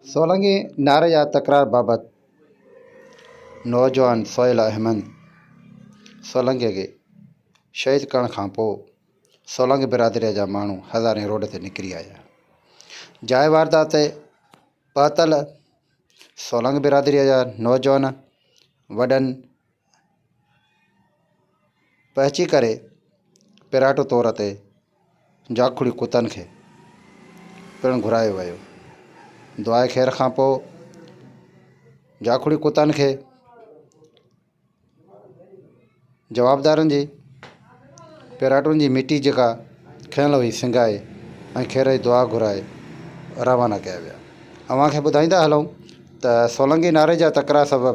سولنگي نعري جا تڪرار بابت نوجوان سهيل احمد سولنگي کي شهيد ڪرڻ کان پوء سولنگي برادريء جا ماڻهو هزارين روڊ تي نڪري آيا. جاء واردات تي پهتل سولنگي برادريء جا نوجوان وڏن پهچي ڪري پراٽو طور تي جاکوڙي ڪتن کي پڻ گهرايو ويو. دعا خير کان پوء جاکوڙي ڪتن کي جوابدارن جي پراٽن جي مٽي جيڪا کنيل هئي سنگهائي ۽ خير جي دعا گهرائي روانا ڪيا ويا. اوهان کي ٻڌائيندا هلون ته سولنگي ناري جا تڪرار سبب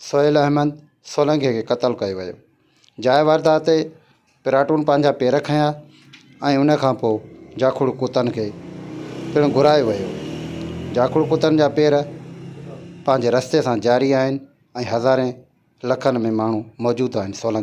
سهيل احمد سولنگيء کي قتل ڪيو ويو. جاء واردات تي پراٽون پنهنجا پير کنيا ۽ ان کان پوء جاکوڙ ڪتن کي پڻ گهرايو ويو. جاکوڙ ڪتن جا پير پنهنجي رستي سان جاري آهن ۽ هزارين لکن ۾ ماڻهو موجود آهن. سولنگي.